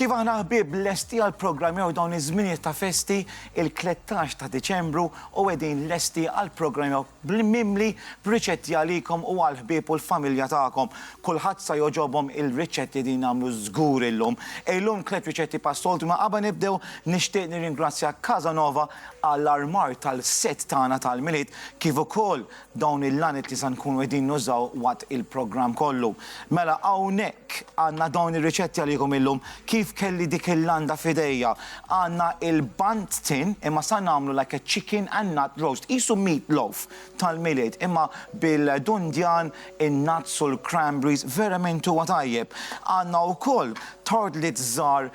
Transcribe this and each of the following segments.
Kif aħna ħbieb lesti għall-programm jew dawn iż-żminijiet ta' festi, il-tlettax ta' Diċembru u qegħdin lesti għall-programm jew bl-mimli b'riċetti għalikom u għall-ħbieb u l-familja tagħkom. Kulħadd sa jogħġobhom il-riċetti din nagħmlu żgur illum. Illum tliet riċetti pas-soltu imma qabel nibdew nixtieq nirringrazzja Casanova għall-armar tal-set tagħna tal-Milied kif ukoll Dawn il-għaniet li se nkunu qegħdin nużaw waqt il-programm kollu. Mela hawnhekk għandna dawn ir-riċetti għalikom illum. Kif kelli dik il-landa f'idejja? Għandna il-banh tin imma sa nagħmlu like a chicken and nut roast. Qisu meat loaf tal-Milied imma bil-dundjan, in-nuts u l-cranberries verament huwa tajjeb. Għandna wkoll tortlets żgħar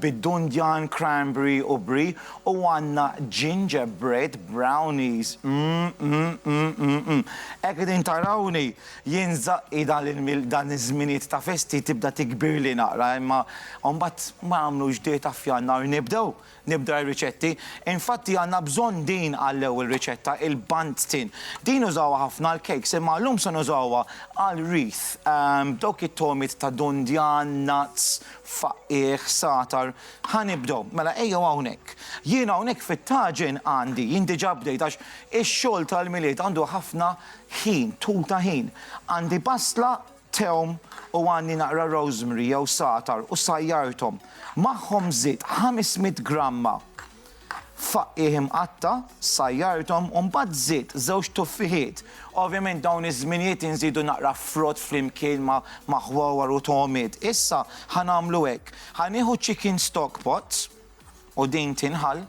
bid-dundjan, cranberry u brie. U għandna ginger bread brownies, mm-mm-mm-mm-mm. Hekk qegħdin tarawni, jien żaqqi dan iż-żminijiet ta' festi tibda tikbirli naqra imma mbagħad ma jagħmlux dieta f'Jannar nibdew, nibda r-riċetti. Infatti għandna bżonn din għall-ewwel riċetta, il-Bundt-tin. Din nużawha ħafna għall-cakes imma llum se nużawha għal wreath, b'dawk it-togħmiet ta' dundjan, nuts, faqqigħ, satar, Ħa nibdew. Mela ejjew hawnhekk. Jien hawnhekk fit-taġen għandi, jien diġà bdejt għax ix-xogħol tal-Milied għandu ħafna ħin, tul ta' ħin. Għandi basla, tewm u għandi naqra rosemary jew sagħtar u sajjarthom. Magħhom żidt ħames mitt gramma Faqqigħ imqatta', sajjarthom u mbagħad żid żewġ tuffiħiet. Ovvjament dawn iż-żminijiet inżidu naqra frott flimkien ma' ħwawar u togħmiet. Issa ħa nagħmlu hekk, ħa nieħu chicken stock pot u din tinħall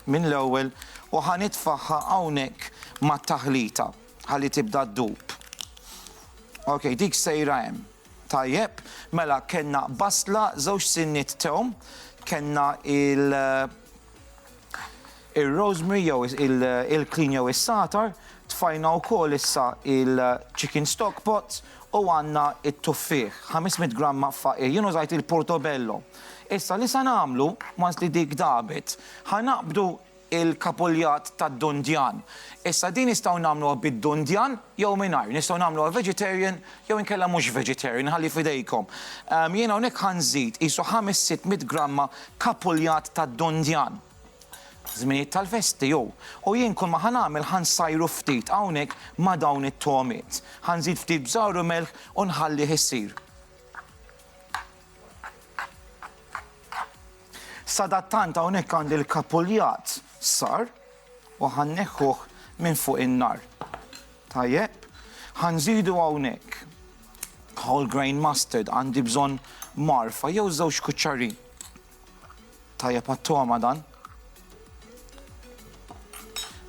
minn l-ewwel u ħa nitfagħha hawnhekk mat-taħlita ħalli tibda ddub. Ok, dik sejra hemm. Tajjeb, mela kellna basla, żewġ sinniet tewm, kellna il ir-rosemary jew il-klin jew is-sagħtar, tfajna wkoll issa il-chicken stock pot u għandna t-tuffieħ, 500 gramma faqir. Jien użajt il-portobello. Issa li se nagħmlu, once li dik dabet, ħa naqbdu il-kapuljat tad-dundjan. Issa din nistgħu nagħmluha bid-dundjan jew mingħajr. Nistgħu nagħmluha vegetarian jew inkella mhux vegetarian, inħalli f'idejkom. Jien hawnhekk ħa nżid qisu ħames sitt mitt gramma kapuljat tad-dundjan. Żminijiet tal-festi hu. U jien kull ma ħa nagħmel ħa nsajru ftit hawnhekk ma' dawn it-togħmiet. Ħa nżid ftit bżar u melħ u nħallih isir. Sadattant hawnhekk għandi l-kapuljat sar u ħanneħħuh minn fuq in-nar. Tajjeb, ħanżidu hawnhekk whole grain mustard għandi bżonn marfa jew żewġ kuċċarin. Tajjeb għat-togħma dan.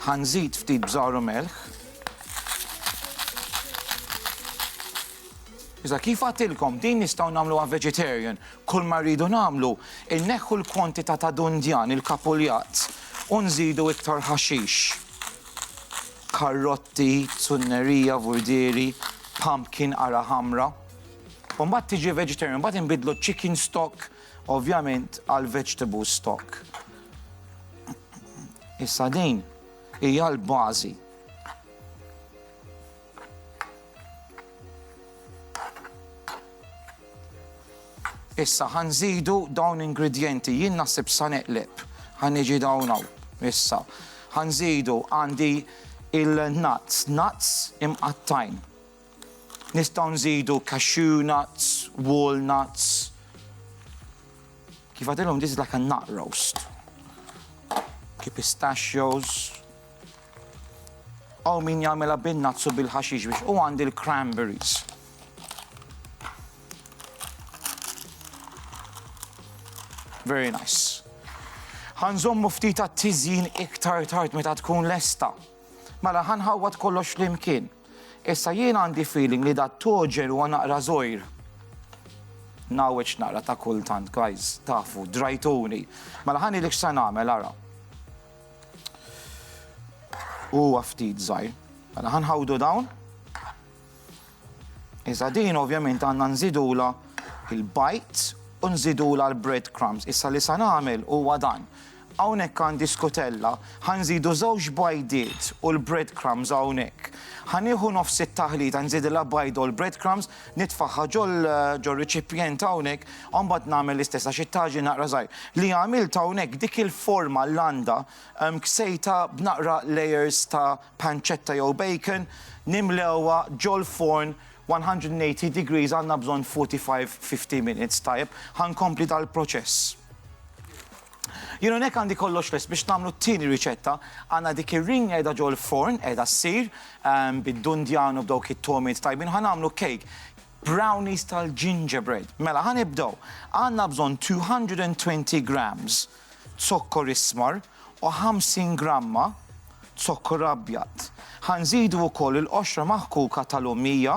Ħanżid ftit bżar u melħ. Iżda kif għatilkom din nistgħu nagħmluha vegetarian. Kull ma rridu nagħmlu inneħħu l-kwantità ta' dundjan il-kapuljat u nżidu iktar ħaxix. Karrotti, zunnerija, vurdieri, pumpkin, qara ħamra. U mbagħad tiġi vegetarian, mbagħad inbiddlu chicken stock Ovvjament għal vegetable stock. Issa din hija l-bażi. Issa ħanżidu dawn ingredjenti, jien naħseb sa neqleb. Ħaniġi dawn hawn. Issa ħanżidu għandi il-nuts, nuts imqattajn. Nistgħu nżidu cashew nuts, walnuts. Kif għadilhom this is like a nut roast. Ki pistachios. Aw min jagħmilha bin-nuts u bil-ħaxix biex u għandi l-cranberries. Very nice. Ħanżommu ftit għat-tiżjin iktar tard meta tkun lesta. Mela ħanħawwad kollox flimkien. Issa jien għandi feeling li da toġel huwa naqra żgħir. Ngħawweġ naqra ta' kultant, guys, tafu, drajtuni. Mela ħa ngħidlek x'sa nagħmel ara. Huwa ftit żgħir. Mela ħa nħawdu dawn. Iżda din ovvjament għandna nżidula il-bajt u nżidula l-bread crumbs. Issa li sa nagħmel huwa dan. Hawnhekk għandi skutella. Ħa nżidu żewġ bajdiet u l-bread crumbs hawnhekk. Ħa nieħu nofs it-taħlita nżidilha bajda u l-bread crumbs, nitfagħha ġor-riċipjent hawnhekk u mbagħad nagħmel l-istess għax it-taġin naqra żgħir. Li għamilt hawnhekk dik il-forma landa ksejtha b'naqra layers ta' pancetta jew bacon, nimlewha ġol-forn 180 degrees għandna bżonn 45, 50 minutes, tajjeb? Ħa nkompli dal-proċess. Jien hawnhekk għandi kollox lest biex nagħmlu t-tieni riċetta. Għandna dik ir-ring qiegħda ġol-forn, qiegħda ssir, bid-dundjan u b'dawk it-togħmiet tajbin. Ħa nagħmlu cake, brownies tal-gingerbread. Mela, ħa nibdew. Għandna bżonn 220 grams zokkor ismar u 50 gramma zokkor abjad. Ħa nżidu wkoll il-qoxra maħkuka tal-ummija.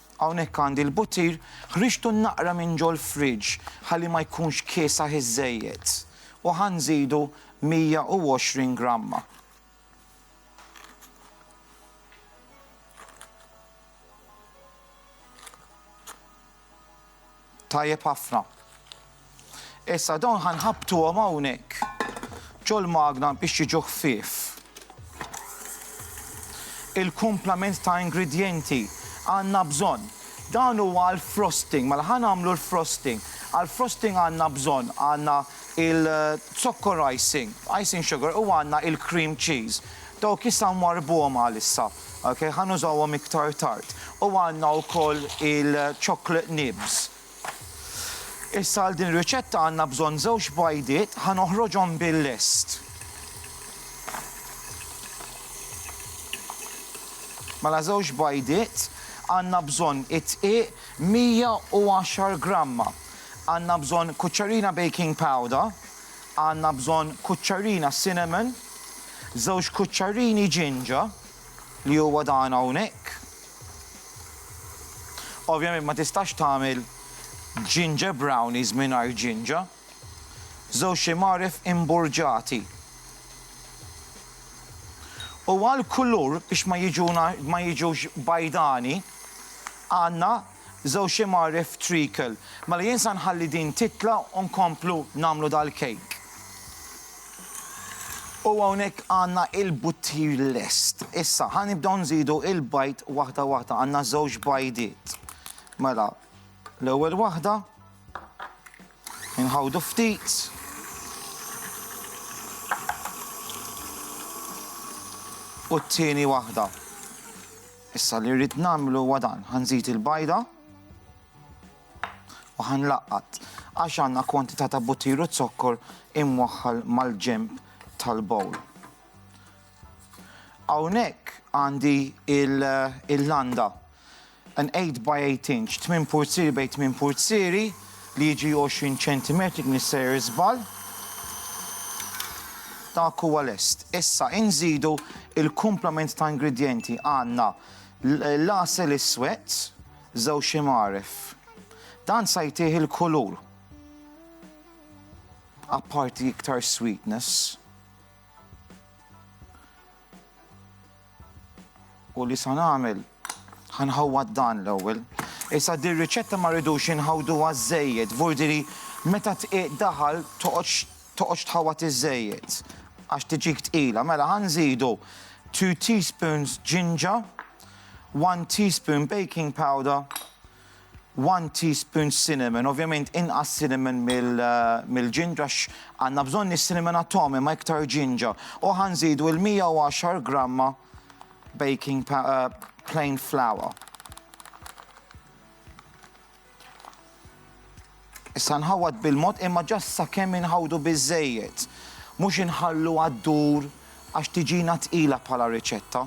Hawnhekk għandi l-buttir, ħriġtu naqra minn ġol-fridge ħalli ma jkunx kiesaħ iżżejjed u ħa nżidu 120 gramma. Tajjeb ħafna. Issa dawn ħa nħabbtuhom hawnhekk ġol-magna biex jiġu ħfief. Il-kumplament ta' ingredjenti għandna bżonn. Dan huwa għal frosting, mela ħa nagħmlu l-frosting. Għal frosting għandna bżonn għandna il-zokkor icing, icing sugar u għandna il-cream cheese. Dawk issa nwarrbuhom għalissa. Ok, ħa nużawhom iktar tard. U għandna wkoll il-chocolate nibs. Issa għal din riċetta għandna bżonn żewġ bajdiet ħa noħroġhom bil-lest. Mela żewġ bajdiet għandna bżonn it-tqiq 110 gramma. Għandna bżonn kuċċarina baking powder, Għandna bżonn kuċċarina cinnamon, żewġ kuċċarini ġinġa, li huwa dan hawnhekk. Ovvjament ma tistax tagħmel ġinġer brownies mingħajr ġinġa. Żewġ imgħaref imburġati. U għall-kulur biex ma jiġuna ma jiġux bajdani għandna Żewġ imgħarref treacle. Mela jien sa nħalli din titla' u nkomplu nagħmlu dal-cake. U hawnhekk għandna il-buttir lest. Issa ħa nibdew nżidu il-bajd waħda waħda. Għandna żewġ bajdiet. Mela l-ewwel waħda inħawdu ftit. U t-tieni waħda. Issa li rrid nagħmlu huwa dan, ħa nżid il-bajda u ħa nlaqqat għax għandna kwantità ta' buttiru zokkor imwaħħal mal-ġemp tal-bowl. Hawnhekk għandi il-landa an 8 by 8 inch, 8 purziri bej 8 purziri, li jiġi 20 ċentimetri kien isejjer iżball. Dak huwa lest. Issa inżidu il-kumplament ta' ingredjenti. Għandna l-għasel iswed, żewġ imgħaref. Dan sa jtih il-kulur. Apparti iktar sweetness. U li sa nagħmel ħa nħawwad dan l-ewwel. Issa dir riċetta ma rridux inħawduha żejjed, vurdi li meta tqiq daħal toqgħodx tħawwad iżejjed għax tiġik tqila. Mela ħa nżidu 2 teaspoons ġinġa, 1 teaspoon baking powder, one teaspoon cinnamon, ovvjament inqas cinnamon mill-ġinġa għax għandna bżonn is-cinnamon għat-togħom imma iktar ġinġa. U ħa nżidu l-110 gramma baking plain flour. Issa nħawwad bil-mod imma just sakemm inħawwdu biżżejjed. Mhux inħalluha ddur għax tiġina tqila bħala riċetta.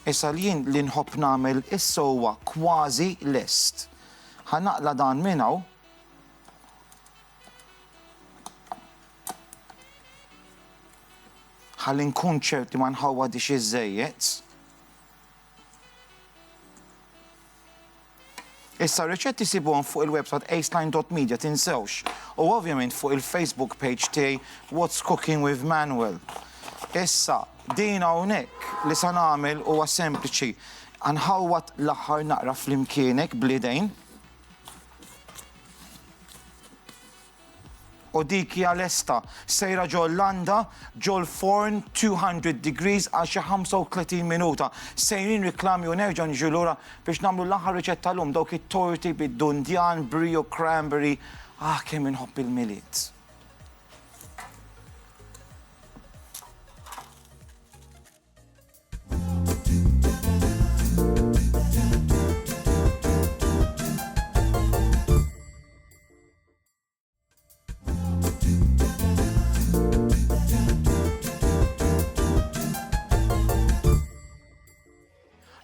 Issa l-jien li nħobb nagħmel issa huwa kważi lest. Ħa naqla' dan minn hawn. Ħalli nkun ċert li ma nħawwadhiex iżżejjed. Issa r-riċetti jsibuhom fuq il-website aceline.media tinsewx u ovvjament fuq il-Facebook page tiegħi What's Cooking with Manuel. Issa din hawnhekk li se nagħmel huwa sempliċi. Nħawwad l-aħħar naqra flimkienek bl-idejn. u dik hija lesta, sejra ġol-landa, ġol-forn 200 degrees għal xi 35 minuta. Sejrin riklami u nerġgħu niġu lura biex nagħmlu l-aħħar riċetta llum, dawk it-torti bid-dundjan, brie u cranberry. Ah kemm inħobb il-Milied!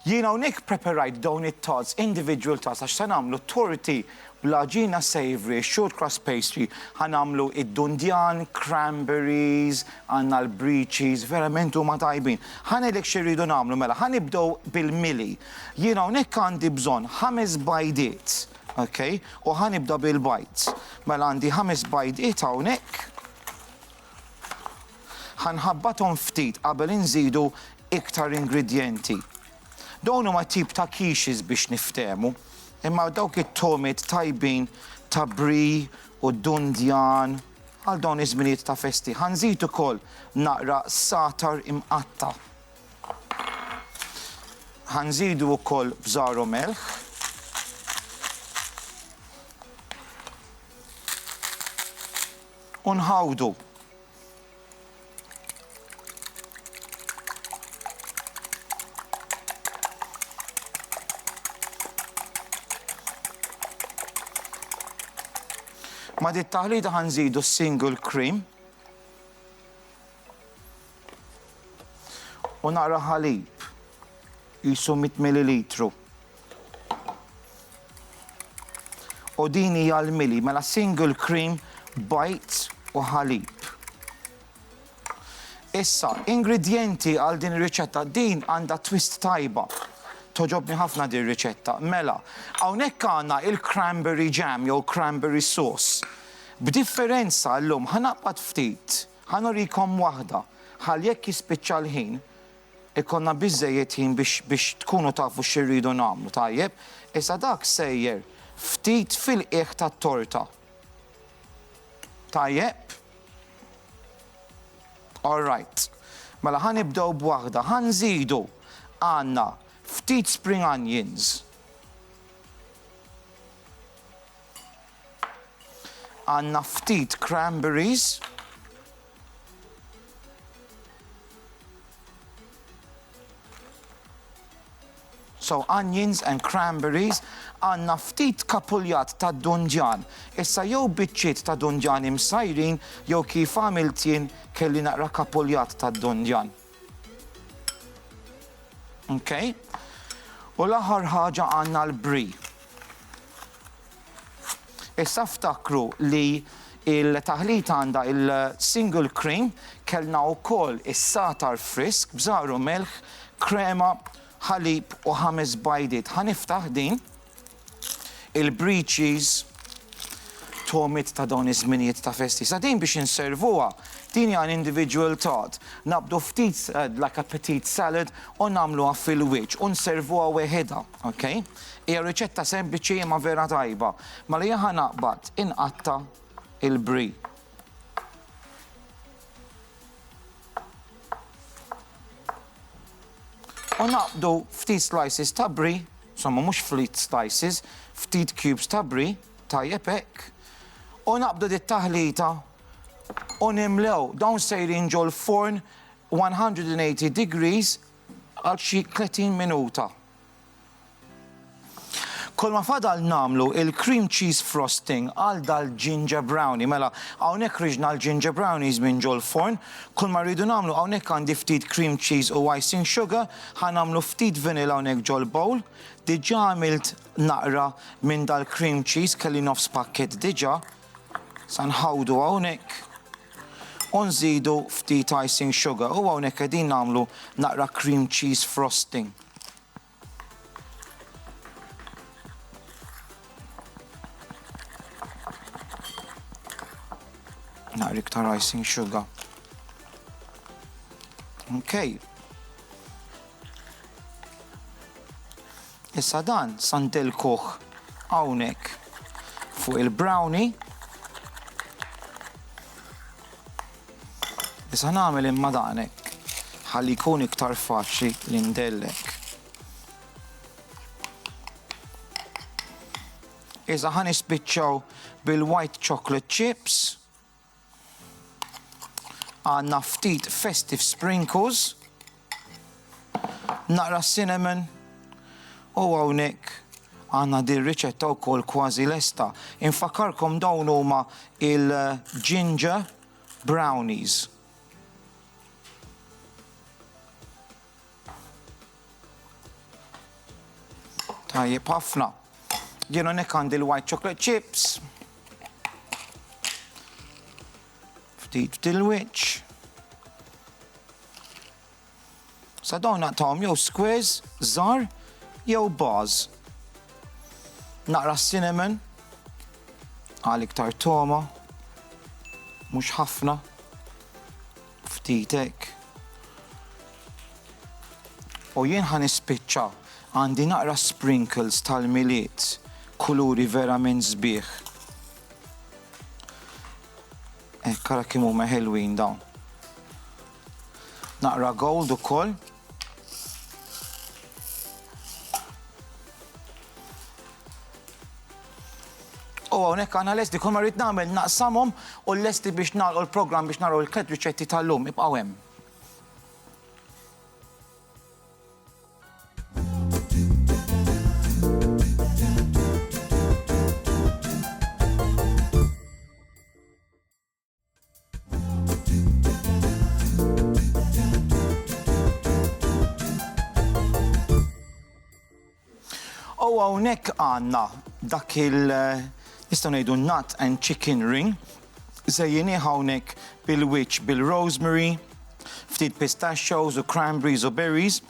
Jien hawnhekk preparajt dawn it-tots, individual tots, għax se nagħmlu torti bla ġina savory, short cross pastry, ħanamlu id-dundjan, cranberries, għanna l-breeches, verament huma tajbin. Ħanelek xi rridu nagħmlu mela, ħanibdew bil-mili. Jien hawnhekk għandi bżonn ħames bajdiet Ok, u ħa nibda bil-bajd. Mela għandi ħames bajdiet hawnhekk. Ħanħabbathom ftit qabel inżidu iktar ingredjenti. Dawn huma tip ta' quiches biex niftehmu, imma dawk it-tomiet tajbin ta' brie u dundjan għal dawn iż-żminijiet ta' festi. Ħa nżid ukoll naqra satar imqatta'. Ħanżidu wkoll bżar u melħ. U nħawdu. Ma dit taħlita ħanżidu single cream U naqra ħalib, qisu 100 millilitru. U din hija l-mili, mela single cream, bajt u ħalib. Issa, ingredjenti għal din ir-riċetta din għandha twist tajba. Toġobni ħafna din riċetta. Mela, hawnhekk għandna il-cranberry jam jew cranberry sauce. B'differenza llum ħanaqbad ftit Ħa nurikom waħda, ħalli jekk jispiċċa l-ħin, ikollna biżżejjed ħin biex tkunu tafu xi rridu nagħmlu, tajjeb? Issa dak sejjer ftit fil-qiegħ tat-torta. Tajjeb? All right. Mela ħa nibdew b'waħda, ħa nżidu għandna ftit spring onions. Għandna ftit cranberries. So onions and cranberries, għandna ftit kapuljat ta' dundjan. Issa jew biċċiet ta' dundjan imsajrin jew kif għamilt jien kelli naqra kapuljat ta' dundjan. Okay? U l-aħħar ħaġa għandna l-bri. Issa ftakru li l-taħlita għandha l-single cream, kellna wkoll is-sagħtar frisk b'żahar u milħ, krema, ħalib u ħames bajdiet. Ħa niftaħ din, il-brie cheese, togħmiet ta' dawn iż-żminijiet ta' festi. Issa din biex inservuha, din hija individual tart. Naqbdu ftit like a petite salad u nagħmluha fil-wiċċ u nservuha weħidha. Ok? Hija riċetta sempliċi imma vera tajba. Ma li jaħa naqbad inqatta il-bri. U naqbdu ftit slices ta' bri, somma mhux flit slices, ftit cubes ta' bri, tajjeb hekk. U naqbdu dit taħlita u nimlew dawn sejrin ġol forn 180 degrees Għal xi tletin minuta. Kolma fadal nagħmlu il-cream cheese frosting għal dal-ginger brownie. Mela, hawnhekk riġna l-ginger brownies minn ġol-forn. Kulma rridu nagħmlu hawnhekk għandi ftit cream cheese u icing sugar. Ħa nagħmlu ftit vanilla hawnhekk ġol-bowl. Diġà għamilt naqra minn dal-cream cheese, kelli nofs pakkett diġà. Se nħawdu hawnhekk u nżidu ftit icing sugar u hawnhekk qegħdin nagħmlu naqra cream cheese frosting. Naqra iktar icing sugar. Okay. Issa dan sa ndellkuh hawnhekk fuq il-brownie. Issa nagħmel imma dan hekk ħalli jkun iktar faċli li ndellek. Issa ħa nispiċċaw bil-white chocolate chips. Għandna ftit festive sprinkles. Naqra cinnamon. U hawnhekk għandna din riċetta wkoll kważi lesta. Infakarkom dawn huma il-ginger brownies. Tajjeb ħafna. Jien hawnhekk għandi l-white chocolate chips. Ftit f'dil-wiċċ. Sa dawn naqtawhom jew squares, żar, jew bars. Naqra cinnamon, għal iktar toma, mhux ħafna. Ftit hekk. U jien ħa nispiċċa, għandi naqra sprinkles tal-Milied, kuluri verament sbieħ. Hekk ara kemm huma ħelwin dawn. Naqra gold ukoll. U hawnhekk għandna lesti kull ma rrid nagħmel naqsamhom u lesti biex nagħlqu l-programm biex naraw il-tliet riċetti tal-lum ibqgħu hemm. U hawnhekk għandna dak il- nistgħu ngħidu nut and chicken ring, żejjini hawnhekk bil-wiċċ bil-rosemary, ftit pistachios u cranberries u berries,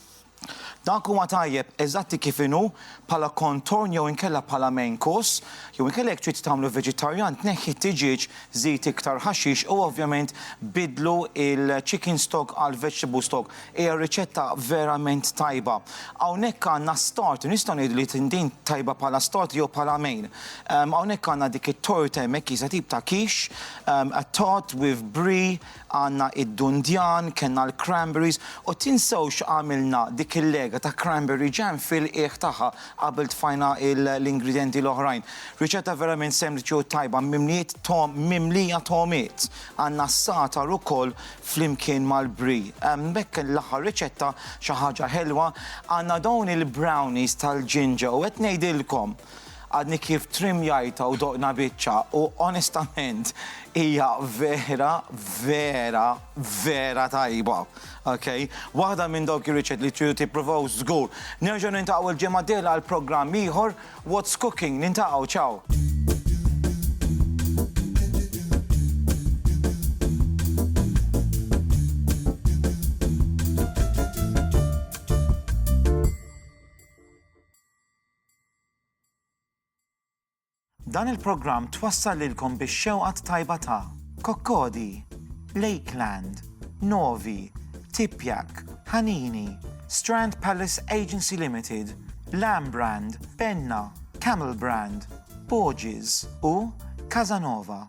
Dak huwa tajjeb eżatti kif inhu bħala contorn jew inkella bħala main course, jew inkella jekk trid tagħmlu veġitarjan tneħħi t-tiġieġ żid iktar ħaxix u ovvjament biddlu il-chicken stock għal vegetable stock. Hija riċetta verament tajba. Hawnhekk għandna start, nistgħu ngħidu li din tajba bħala start jew bħala main. Hawnhekk għandna dik it-torta hemmhekk jisa tip ta' quiche, a tart with brie, Għandna id-dundjan, kellna l-cranberries u tinsewx x'għamilna dik il-lega ta' cranberry jam fil-qiegħ tagħha qabel tfajna l-ingredjenti l-oħrajn. Riċetta verament sempliċi u tajba mimliet togħom mimlija togħmiet. Għandna s-sagħtar ukoll flimkien mal-brie. Hemmhekk l-aħħar riċetta xi ħaġa ħelwa, għandna dawn il-brownies tal-ġinġa u qed ngħidilkom! Għadni kif trimjajta u doqna biċċa u onestament hija vera, vera, vera tajba. Okay? Waħda minn dawk ir-riċet li tridu tippruvaw żgur. Nerġgħu nintaqgħu l-ġimgħa d-dieħla għal programm ieħor What's Cooking. Nintaqgħu, ciao! Dan il-programm twassal lilkom bix-xewqa t-tajba ta' Kokkodi, Lakeland, Novi, Tipjak, Ħanini, Strand Palace Agency Limited, Lamb Brand, Benna, Camel Brand, Borges u Casa Nova.